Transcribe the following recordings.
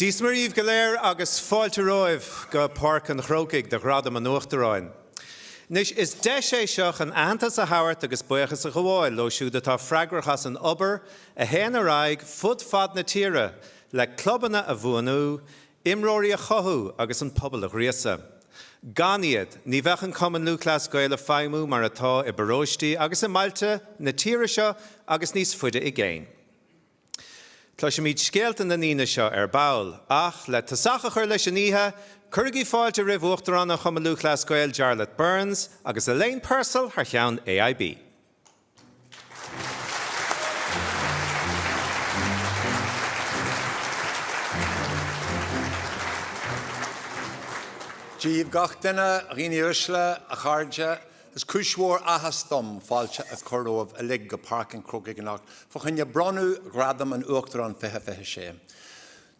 Dia is Muire daoibh go léir agus fáilte romhaibh go Páirc an Chrócaigh do Ghradaim an Uachtaráin. Anois, is deis é seo chun aitheantas a thabhairt agus buíochas a ghabháil leo siúd atá freagrach as an obair a théann ar aghaidh fud fad na tíre le clubanna a bhuanú, imreoirí a chothú agus an pobal a ghríosadh. Gan iad, ní bheadh an Cumann Lúthchleas Gael ag feidhmiú mar atá i bparóistí agus i mbailte na tíre seo agus níos faide i gcéin. Cloisfimid scéalta na ndaoine seo ar ball, ach le tosach a chur leis an oíche, cuirigí fáilte roimh Uachtarán an Chumann Lúthchleas Gael, Jarlath Burns, agus Elaine Purcell thar cheann AIB. Dia daoibh gach duine, a dhaoine uaisle, a chairde, is cúis mhór áthais dom fáilte a chur romhaibh uilig go Páirc an Chrócaigh anocht fa choinne bronnadh Ghradaim an Uachtaráin 2026.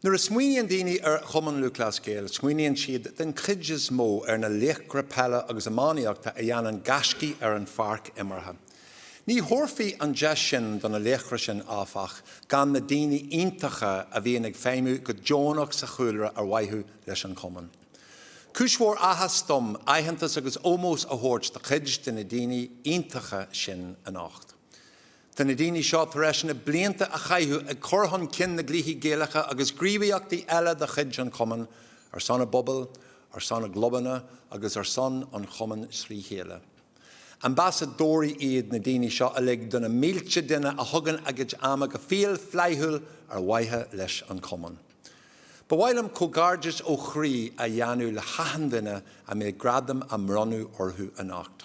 Nuair a smaoiníonn daoine ar Chumann Lúthchleas Gael, smaoiníonn siad den chuid is mó ar na laochra peile agus iománaíochta a dhéanann gaiscí ar an pháirc imeartha. Ní thabharfaí an deis sin do na laochra sin, áfach, gan na daoine iontacha a bhíonn ag feidhmiú go deonach sa chúlra ar mhaithe leis an Chumann. Cúis mhór áthais dom aitheantas agus ómós a thabhairt do chuid de na daoine iontacha sin anocht. Tá na daoine seo tar éis na blianta a chaitheamh ag cur chun cinn na gcluichí Gaelacha agus gníomhaíochtaí eile de chuid an Chumainn, ar son a bpobail, ar son a gclubanna agus ar son an Chumainn trí chéile. Ambasadóirí iad na daoine seo uilig do na mílte duine a thugann a gcuid ama go fial flaithiúil ar mhaithe leis an Chumann. Ba mhaith liom comhghairdeas ó chroí a dhéanamh le hachan duine a mbeidh gradam á bhronnadh orthu anocht.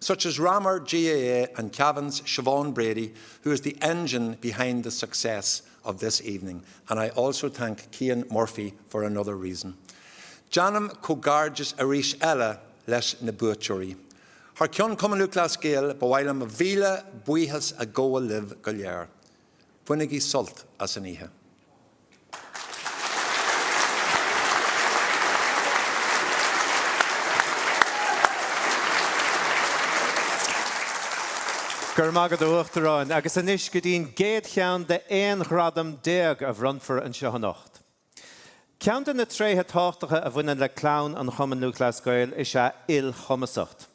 such as Ramor GAA and Cavan's Siobhán Brady who is the engine behind the success of this evening and I also thank Cian Murphy for another reason. Déanaim comhghairdeas arís eile leis na buaiteoirí. Thar ceann Chumann Lúthchleas Gael ba mhaith liom míle buíochas a ghabháil libh go léir. Bainigí sult as an oíche. Go raibh maith agat, a Uachtaráin, agus anois go dtí an gcéad cheann de 11 ghradam a bhronnfar anseo anocht. Ceann de na tréithe tábhachtacha a bhaineann le clann an Chumann Lúthchleas Gael is ea ilchumasacht.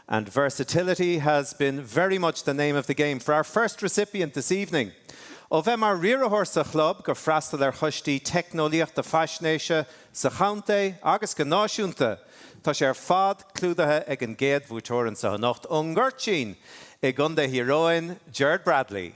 and versatility has been very much the name of the game for our first recipient this evening. Ó bheith mar riaraitheoir sa chlub go freastal ar choistí teicneolaíochta faisnéise sa chontae agus go náisiúnta, tá sé ar fad clúdaithe ag an gcéad bhuaiteoir anseo anocht ón nGoirtín i gContae Thír Eoghain, Gerard Bradley.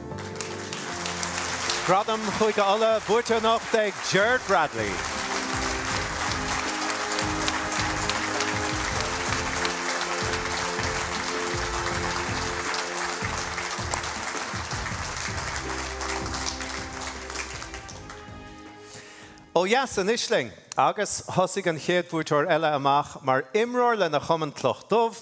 Gradam Chúige Uladh buaite anocht ag Gerard Bradley. Ó dheas in Uisling agus thosaigh an chéad bhuaiteoir eile amach mar imreoir lena chumann Cloch Dubh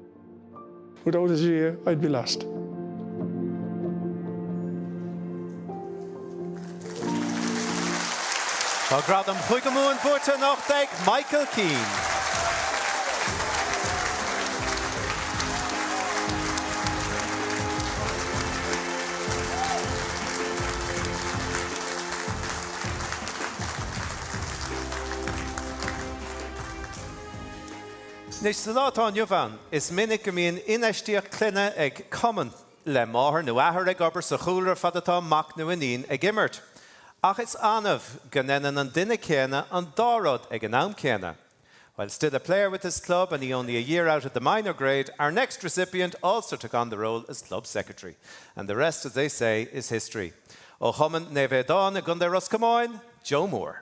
Without the GAA I'd be lost. Tá gradam Chúige Mumhan buaite anocht ag Michael Keane. Anois san lá atá inniu ann, is minic go mbíonn infheistíocht clainne ag cumann, le máthair nó athair ag obair sa chúlra fad atá mac nó iníon ag imirt. Ach is annamh go ndeineann an duine céanna an dá rud ag an am céanna. While still a player with his club and he only a year out of the minor grade, our next recipient also took on the role as club secretary. And the rest, as they say, is history. Ó chumann Naomh Aodán i gContae Ros Comáin, Joe Moore.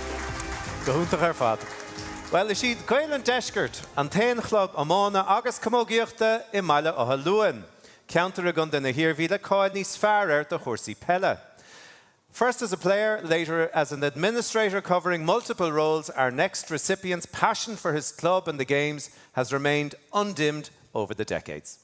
Go hiontach ar fad. Bhuel, is iad Gaeil an Deiscirt an t-aon chlub iomána agus camógaíochta i mBaile Átha Luain, ceantar i gContae na hIarmhí le cáil níos fearr air do chúrsaí peile. First as a player, later as an administrator covering multiple roles, our next recipient's passion for his club and the games has remained undimmed over the decades.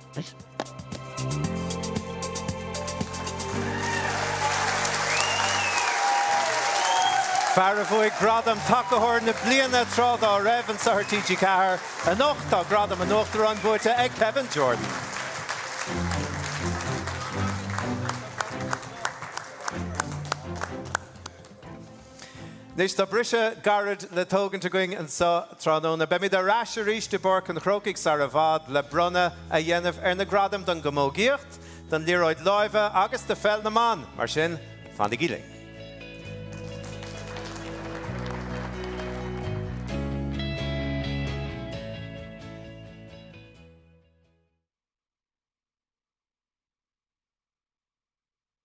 Fear a bhuaigh gradam Tacaitheoir na Bliana tráth dá raibh, ansa ar TG4, anocht tá gradam an Uachtaráin buaite ag Kevin Jordan. Anois tá briseadh gairid le tógaint againn anseo tráthnóna. Beimid ar ais arís i bPáirc an Chrócaigh sar i bhfad le bronnadh a dhéanamh ar na gradaim don gcamógaíocht, don liathróid láimhe agus do pheil na mban, mar sin fanaigí linn.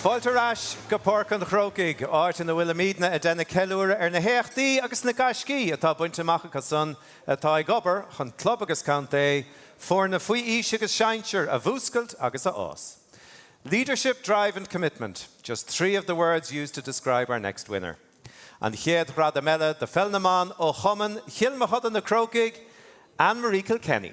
Fáilte ar ais go Páirc an Chrócaigh, áit ina bhfuilimidne ag déanamh ceiliúradh ar na héachtaí agus na gaiscí atá bainte amach acu san atá ag obair chun club agus contae Foirne faoi aois agus sinsear a mhúscailt agus a fhás. Leadership, drive and commitment, just three of the words used to describe our next winner. An chéad ghradam eile do Pheil na mBan ó Chumann Chill Mochuda Na Crócaigh, Ann Marie Kilkenny.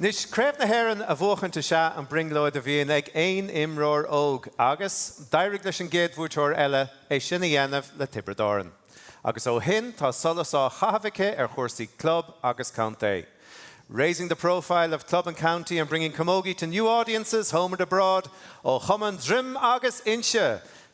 Anois, Craobh na hÉireann a bhuachaint is ea an brionglóid a bhíonn ag aon imreoir óg agus d'éirigh leis an gcéad bhuaiteoir eile é sin a dhéanamh le Tiobraid Árann agus ó shin tá solas á chaitheamh aici ar chúrsaí club agus contae, 'raising the profile of club and county and bringing camogie to new audiences, home and abroad', ó Chumann Droim agus Inse.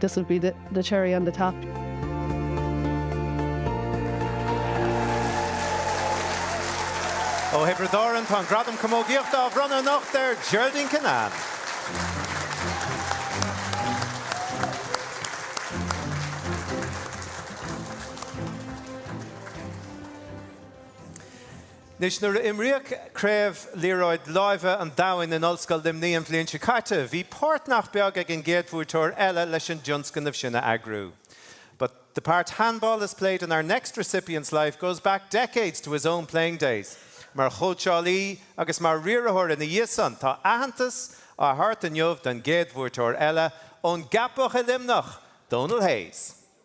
This will be the cherry on the top. Ó Thiobraid Árann, tá an Gradam Camógaíochta á bhronnadh anocht ar Geraldine Kinane. Anois, nuair a imríodh Craobh Liathróid Láimhe an Domhain in Ollscoil Luimnigh an bhliain seo caite, bhí páirt nach beag ag an gcéad bhuaiteoir eile leis an dtionscnamh sin a eagrú. But the part handball has played in our next recipient's life goes back decades to his own playing days. Mar chóitseálaí agus mar riarthóir ina dhiaidh san, tá aitheantas á thabhairt inniu don gcéad bhuaiteoir eile ón gCeapach i Luimneach, Dónal Hayes.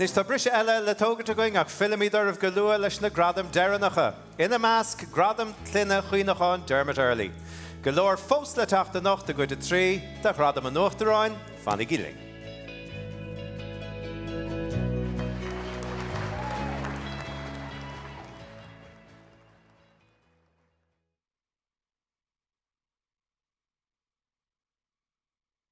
Anois tá briseadh eile le tógaint againn ach fillfimid oraibh go luath leis na gradaim deireanacha, ina measc, Gradam Clainne Chuimhneacháin Dermot Earley. Go leor fós le teacht anocht i gcuid a trí de Ghradaim an Uachtaráin, fanaigí linn.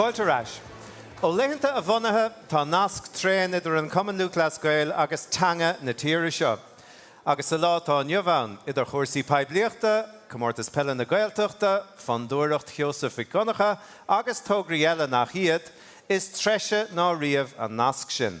Fáilte ar ais. Ó laethanta a bhunaithe tá nasc tréan idir an Cumann Lúthchleas Gael agus teanga na tíre seo. Agus sa lá atá inniu ann, idir chúrsaí poiblíochta, Comórtas Peile na Gaeltachta, Fondúireacht Sheosaimh Mhic Dhonncha agus tograí eile nach iad, is treise ná riamh an nasc sin.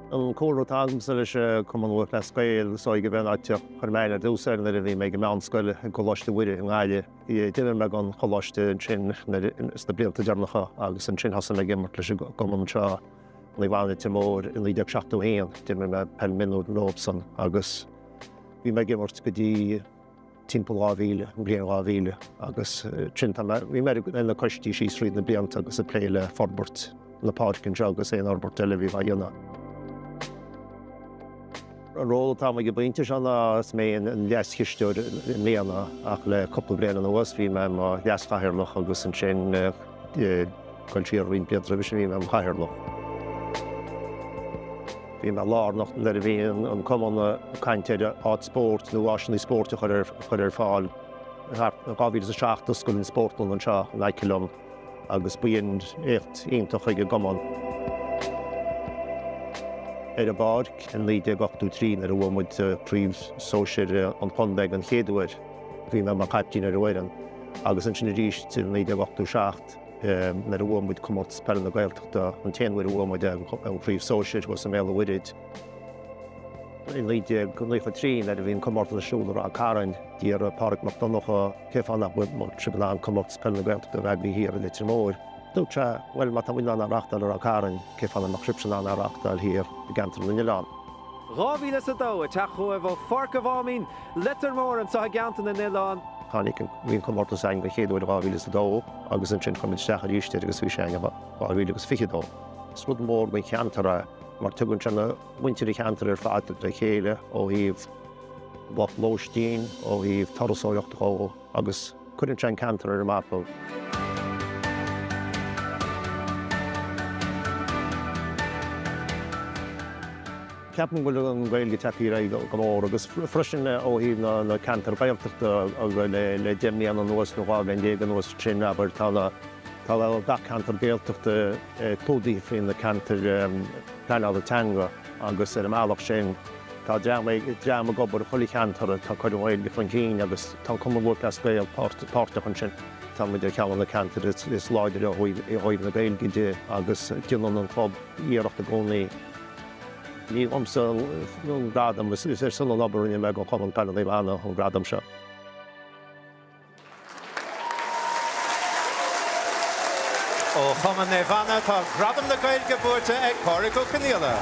An cúlra atá agamsa le Cumann Lúthchleas Gael, is dóigh go mb'é an áit ar chuir mé aithne i dtús air nuair a bhí mé ag an meánscoil i gColáiste Mhuire i nGaillimh. D'imir mé don choláiste ansin sna blianta deireanacha agus ansin thosaigh mé ag imirt leis an gcumann seo Naomh Anna Leitir Móir i 1971. D'imir mé peil mionúir leofsan agus bhí mé ag imirt go dtí. timpeall 2000, an bhliain 2000 agus roimhe sin bhí mé ar na coistí síos tríd na blianta agus ag plé le forbairt na páirce anseo agus aon fhorbairt eile a bhí le déanamh. An ról atá agam go baileach anois ná is mé an leas-chisteoir i mbliana ach le cúpla bliain anuas bhí mé mar leas-chathaoirleach agus ansin Ag dul siar roinnt blianta roimhe sin, bhí mé i mo chathaoirleach. Bhí mé lárnach nuair a bhí an cumann ag caint ar áit spóirt nó áiseanna spóirt a chur ar fáil. In 2007 d'oscail an spórtlann anseo in aice liom agus b'in éacht iontach chuig an gcumann. Ar an bpáirc in 1983 nuair a bhuaigh muid Craobh Sóisir an Chontae den chéad uair. Bhí mé mar caiptín ar an bhfoireann agus ansin arís i 1987 nuair a bhuaigh muid Comórtas Peile na Gaeltachta, an t-aon uair a bhuaigh muid an Chraobh Sóisir thuas i mBéal an Mhuirthid. I 1993 nuair a bhí an comórtas ar siúl i Ráth Cairn, d'iarr Pádraig Mac Donnacha cé fáth nach mbeadh sibh in ann Comórtas Peile na Gaeltachta a bheith thiar i Leitir Móir. Dúirt sé, bhuel má tá muid in ann é a reáchtáil i Ráth Cairn, cé fáth nach mbeadh sibhse in ann é a reáchtáil thiar i gceantar na nOileán. 2002, ag teacht chugaibh ó Pháirc a' Mháimín Leitir Móir anseo i gCeantar na nOileán. Bhí an comórtas againn den chéad uair in 2002 agus ansin chuir muid isteach arís air agus bhí sé againn in 2022. Is rud mór don cheantar é mar tugann sé muintir an cheantair ar fad le chéile ó thaobh lóistín, ó thaobh turasóireachta, ó. agus cuireann sé an ceantar ar an mapa. Ceapaim go bhfuil an Ghaeilge ag tarraingt aird go mór agus freisin ó thaobh na ceantair Gaeltachta le deich mbliana anuas nó dhá bhliain déag anuas sin abair, tá gach ceantar Gaeltachta clúdaithe faoi na ceantair pleanála teanga. agus ar an mbealach sin tá dream ag obair i chuile cheantar atá ag cur an Ghaeilge chun cinn agus tá an Cumann Lúthchleas Gael páirteach ansin. Tá muid ar cheann de na ceantair is láidre ó thaobh na Gaeilge de agus déanann an club iarracht i gcónaí. Ní liomsa an gradam, is ar son an obair a rinne mé do Chumann Peile Naomh Anna an gradam seo. Ó Chumann Naomh Anna tá Gradam na Gaeilge buaite ag Pádraig Ó Conaola.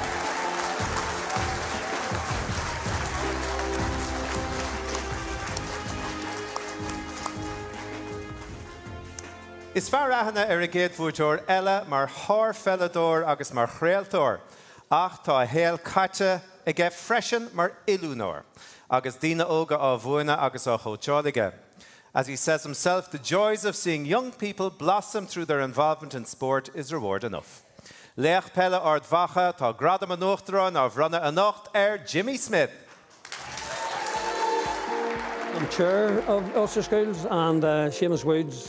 Is fearr aithne ar an gcéad bhuaiteoir eile mar shárpheileadóir agus mar chraoltóir ach tá a shaol caite aige freisin mar oiliúnóir agus daoine óga á mhúineadh agus á chóitseáil aige As he says himself, the joys of seeing young people blossom through their involvement in sport is reward enough. Laoch Peile Ard Mhacha, Tá Gradam an Uachtaráin á bhronnadh anocht ar Jimmy Smyth. Chair of Ulster Schools and Seamus Woods.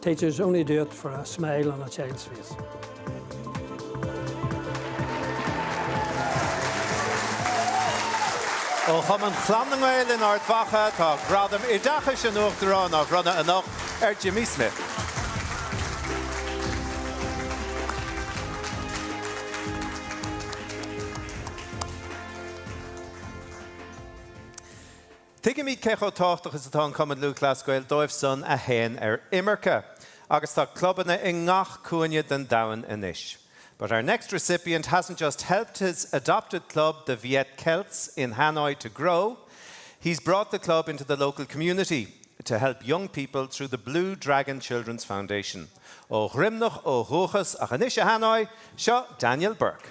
Teachers only do it for a smile on a child's face. Ó Chumann Chlann na Gael in Ard Mhacha, tá Gradam Oideachais an Uachtaráin á bhronnadh anocht ar Jimmy Smyth. Tuigimid cé chomh tábhachtach is atá an Cumann Lúthchleas Gael dóibh san a théann ar imirce, agus tá clubanna i ngach cúinne den domhan anois. But our next recipient hasn't just helped his adopted club, the Viet Celts in Hanoi to grow, he's brought the club into the local community to help young people through the Blue Dragon Children's Foundation. Ó Dhroimneach ó dhúchas, ach anois i Hanoi, seo Daniel Burke.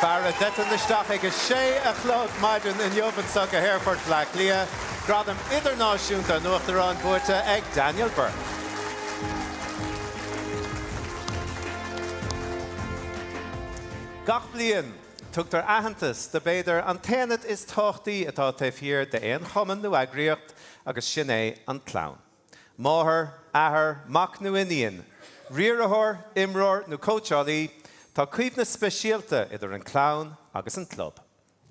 Fear a d'eitil isteach ag a sé a chlog maidin inniu anseo go hAerfort Bhleá Cliath, Gradam Idirnáisiúnta an Uachtaráin buaite ag Daniel Burke. Gach bliain, tugtar aitheantas do b'fhéidir an t-aonad is tábhachtaí atá taobh thiar d'aon chumann nó eagraíocht agus sin é an clann. Máthair, athair, mac nó iníon, riarthóir, imreoir nó cóitseálaí, tá coibhneas speisialta idir an clann agus an club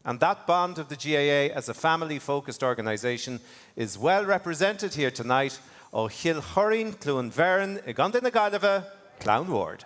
and that bond of the GAA as a family focused organisation is well represented here tonight Ó Chill Choirín, Cluain Bheirn i gContae na Gaillimhe, Clann Ward.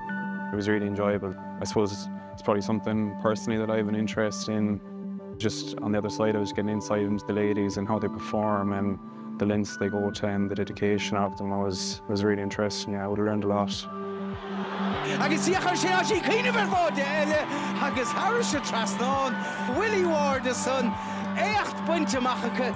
It was really enjoyable. I suppose it's probably something personally that I have an interest in, just on the other side of it, getting insight into the ladies and how they perform and the lengths they go to and the dedication of them was was really interesting, yeah, I would have learned a lot. Agus dia chuir sé áisí cuimhneamh ar bháide eile agus thairis a trasnán Willie Ward a son, éacht bainte amach acu.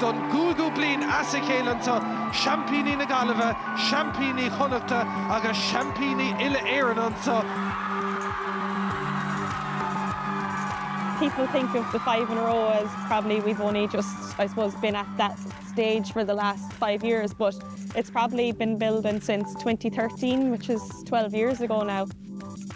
Don gcúigiú bliain as a chéile anseo, seaimpíní na Gaillimhe, seaimpíní Chonnachta agus seaimpíní uile-Éireann anseo. people think of the five in a row as probably we've only just I suppose been at that stage for the last five years but it's probably been building since 2013 which is 12 years ago now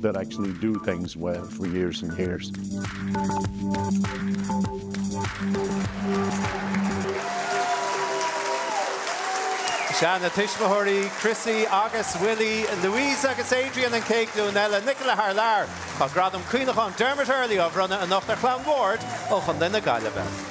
that actually do things well for years and years. Sea, na tuismitheoirí, Chrissy agus Willie, Louise agus Adrian an chéad glúin eile, Nicola thar lear. Tá gradam Cuimhneacháin Dermot Earley á bhronnadh anocht ar chlann Ward ó Chontae na Gaillimhe.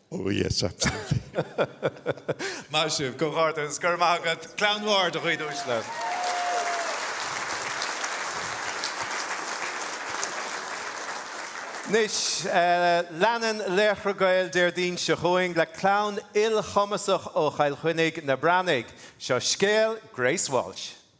Oh yes, absolutely. Maith sibh, comhghairdeas. Go raibh maith agat. Bualadh bos mór, a dhaoine uaisle. Anois, leanann Laochra Gael Déardaoin seo chugainn le clann ilchumasach ó Chill Chainnigh, na Breathnaigh. Seo scéal Grace Walsh.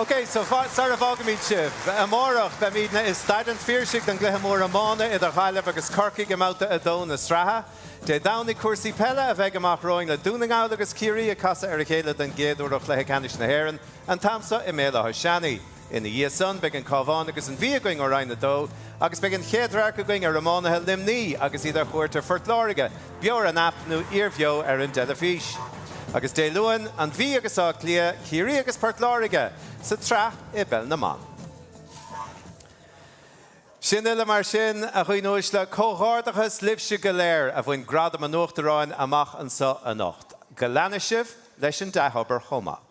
Ok, so sar a bhfágaimid sibh, amárach beimidne i Staid an Phiarsaigh don gcluiche mór iomána idir Ghaillimh agus Corcaigh i mBabhta 2 na sraithe. Dé Domhnaigh cúrsaí peile a bheidh amach romhainn le Dún na nGall agus Ciarraí ag casadh ar a chéile don gcéad uair ó Chluiche Ceannais na hÉireann an t-am so i mBéal Átha Seanaidh. Ina dhiaidh san beidh an Cábhán agus an Mhí againn ó Roinn 2 agus beidh an chéad radharc againn ar iománaithe Luimní agus iad ar chuairt ar Phort Láirge, beo ar an aip nó iarbheo ar an dteilifís. Agus Dé Luain, An Mhí agus Áth Cliath, Ciarraí agus Port Láirge sa tsraith i bpeil na mban. Sin uile mar sin, a dhaoine uaisle, comhghairdeachas libhse go léir a bhain Gradam an Uachtaráin amach anso anocht. Go leanfaidh sibh leis an dea-obair chomh maith.